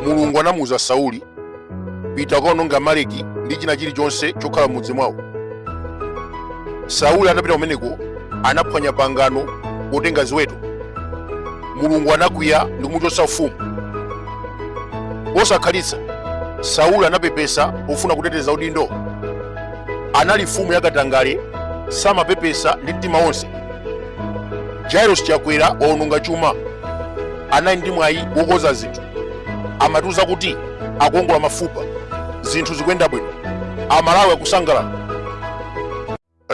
mulungu anamuuza sauli pita ukaononga amaleki ndi china chilichonse chokhala m'mudzi mwawo sauli atapita kumeneko anaphwanya pangano potenga ziweto mulungu anakwiya ndi kumuchotsa ufumu posakhalitsa sauli anapepesa pofuna kuteteza udindo anali mfumu yakatangale samapepesa ndi mtima wonse lazarus chakwera waononga chuma anali ndi mwayi wokonza zinthu amatiuza kuti akuongola mafupa zinthu zikuyenda bwino amalawi akusangalala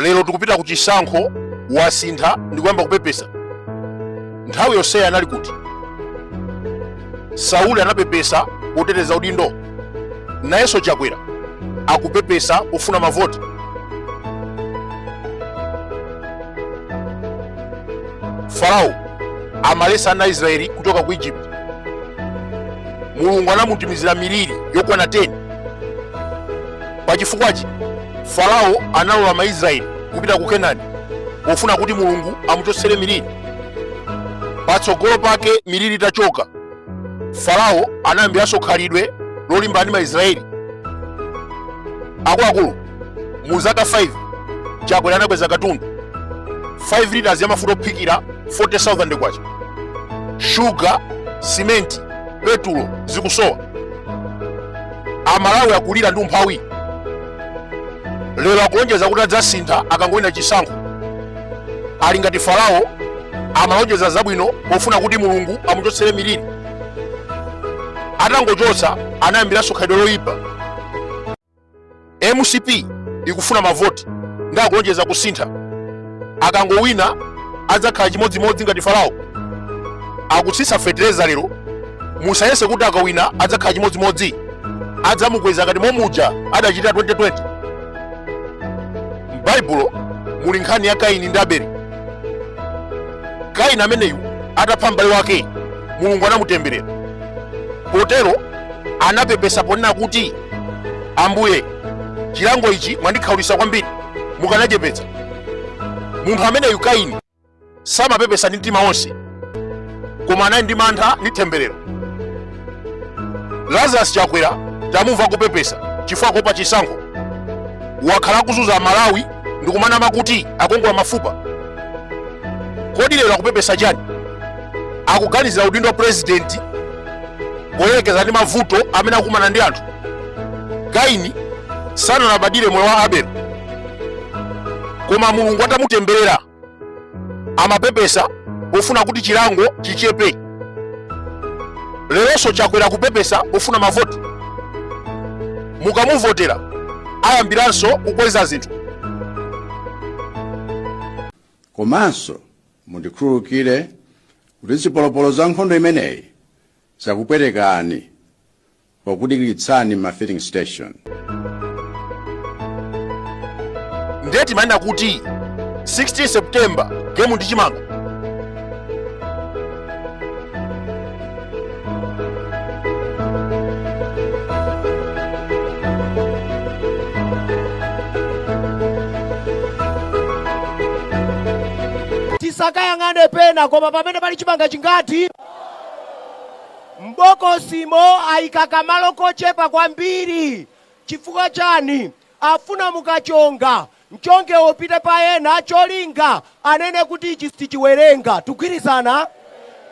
lero tikupita ku chisankho wasintha ndikuyamba kupepesa nthawi yonseyi anali kuti sauli anapepesa poteteza udindo nayenso chakwera akupepesa pofuna mavoti farao amaletsa ana aisraeli kuchoka ku egypt mulungu anamutumizira miliri yokwana 10 pachifukwachi farao analola maisraeli kupita ku kenani pofuna kuti mulungu amuchotsere miliri patsogolo pake miliri itachoka farao anayambiranso khalidwe lolimbana ndi maisraeli akuluakulu mu zaka 5 chakwera anakweza katundu 5 liters ya mafuta ophikira 40000 kwacha shuga simenti petulo zikusowa amalawi akulira ndi umphawi lero akulonjeza kuti adzasintha akangowina chisankho ali ngati farao amalonjeza zabwino pofuna kuti mulungu amuchotsere miliri atangochotsa anayambiranso khalidwe loyipa mcp ikufuna mavoti ndi akulonjeza kusintha akangowina adzakhala chimodzimodzi ngati farao akutsitsa fetereza lero musayese kuti akawina adzakhala chimodzimodzi adzamukweza ngati momuja adachita 2020 m'baibulo muli nkhani ya kaini ndi abeli kaini ameneyu atapha m'bale wake mulungu anamutemberera potero anapepesa ponena kuti ambuye chilango ichi mwandikhaulitsa kwambiri mukanachepetsa munthu ameneyu kaini samapepesa ndi mtima wonse koma anali ndi mantha ndi temberero lazarus chakwera tamumva akupepesa chifukwa akuopa chisankho wakhala akuzunza amalawi ndikumanama kuti akuongola mafupa kodi lero akupepesa chani akuganizira udindo wa purezidenti poyerekeza ndi mavuto amene akukumana ndi anthu kaini sanalabadire moyo wa abele koma mulungu atamutemberera amapepesa pofuna kuti chilango chichepe leronso chakwera kupepesa pofuna mavoti mukamuvotera ayambiranso kukweza zinthu komanso mundikhululukire kuti zipolopolo za nkhondo imeneyi zakupwetekani pokudikiritsani ma filling station. ndiye timanena kuti 16 september game ndi chimanga tisakayang'ane pena koma pamene pali chimanga chingati M'bokosimo aika kamalo kochepa kwambiri. Chifukwa chani? Afuna mukachonga, mchongewo upite pa ena cholinga anene kuti ichi sichiwerenga. Tugwirizana?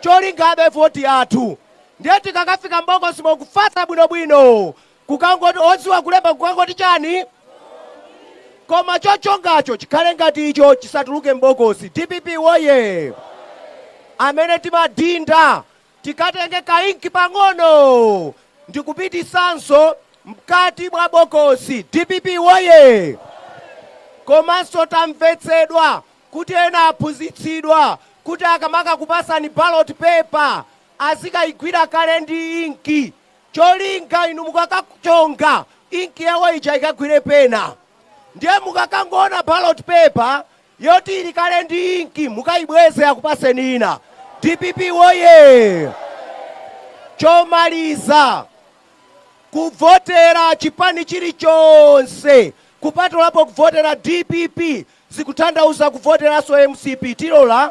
Cholinga abe voti athu. Ndiye tikakafika m'bokosimo kufatsa bwinobwino, kukangoti, odziwa kulemba kukangoti chani? Koma chochongacho chikhale ngati icho chisatuluke m'bokosi. Dpp Woyee! Amene timadhinda tikatenge ka inki pang'ono ndikupitisanso mkati mwa bokosi. Dpp woye! Komanso tamvetsedwa kuti ena aphunzitsidwa kuti akamakakupasani ballot paper azikaigwira kale ndi inki cholinga inu mukakachonga inki yawo ija ikagwire pena. Ndiye mukakangoona ballot paper Yoti ili kale ndi inki mukaibweze akupaseni ina. Dpp woyee! Chomaliza, kuvotera chipani chilichonse kupatulapo kuvotera dpp zikuthandauza kuvoteranso mcp. Tilola?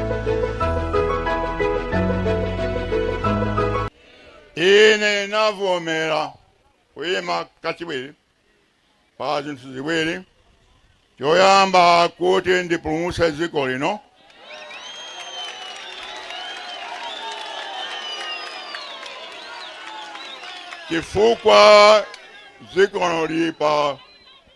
ine navomera kuyima kachiwiri pa zinthu ziwiri choyamba kuti ndipulumutse dziko lino chifukwa dziko lino lili pa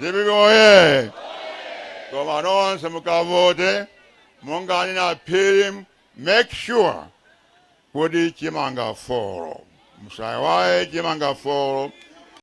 dpp oye koma nonse mukavote monga anena phiri make sure kuti chimanga folo musayiwale chimanga folo